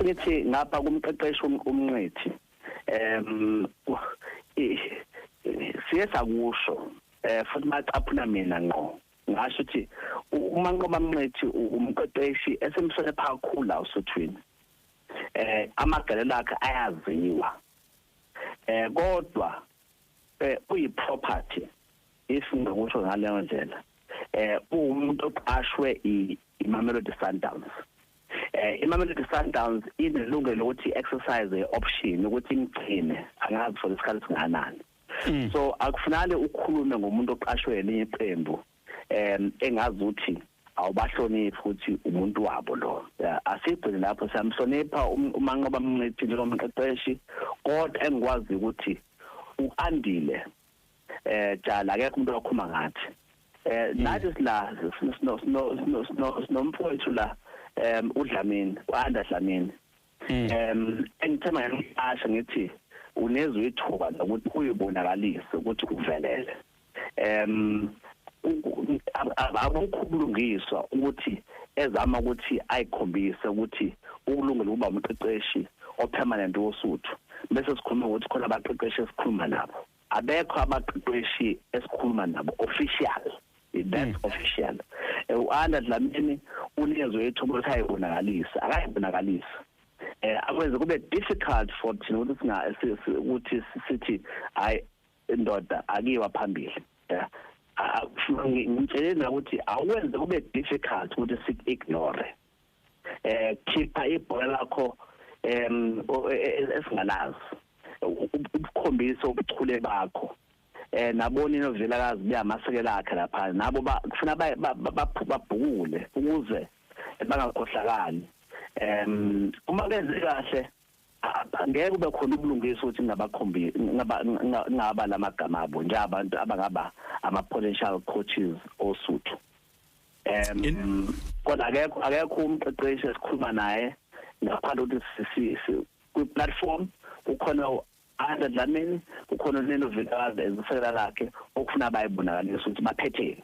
ngithi ngapha kumqeqeshi umnqithi em siye sakusho eh futhi macaphuna mina ngqo ngasho ukuthi uma nqoba mnqithi umqeqeshi esemsole phakhulu la usothwini eh amagalelo akhe ayaziwa eh kodwa eh uyi property if ngingakusho ngaleyo ndlela eh uwumuntu oqashwe iMamelodi Sundowns eh iMamelodi Sundowns inelungelo ukuthi exercise option ukuthi imgcine angazi for isikhathi singanani hmm. so akufunale ukhulume ngomuntu oqashwe elinye iqembu em engazi ukuthi awubahloniphi ukuthi umuntu wabo lo asigcine lapho siyamhlonipha um-, umanqoba mnciphi njengomqeqeshi kodwa engikwazi ukuthi uandile eh jala akekho umuntu okhuma ngathi eh hmm. nathi sila sino sino sino sinomfowethu la em udlamini kwanda dlamini hmm. em engithema ngasho ngithi unezwe ithuba lokuthi uyibonakalise ukuthi uvelele em abakhulungiswa ukuthi ezama ukuthi ayikhombise ukuthi ukulungela ukuba umqeqeshi opermanent wosuthu bese sikhuluma ukuthi khona abaqeqeshi esikhuluma nabo abekho abaqeqeshi esikhuluma nabo official that's hmm. official eh, u-anda dlamini unikezwe ithuba ukuthi ayibonakalisa akayibonakalisa eh akwenze kube difficult for thina ukuthi singa ukuthi sithi hayi indoda akiwa phambili yeah ngimtshele ukuthi awenze kube difficult ukuthi sik ignore eh khipha ibhola lakho em e, e, e, esingalazi ukukhombisa ubuchule bakho eh nabona inovilakazi buyamasekela akhe lapha nabo kufuna babhukule ukuze bangakhohlakali em uma kenze kahle ngeke kube khona ubulungisa ukuthi ngabakhombi ngaba lamagama abo nje abantu abangaba ama potential coaches osuthu um kodwa akekho akekho umqeqeshi esikhuluma naye ngaphandle ukuthi kwi-platform kukhona u-andre dlamini kukhona unelo vilakazi ezisekela lakhe okufuna bayibonakalisa ukuthi baphetheni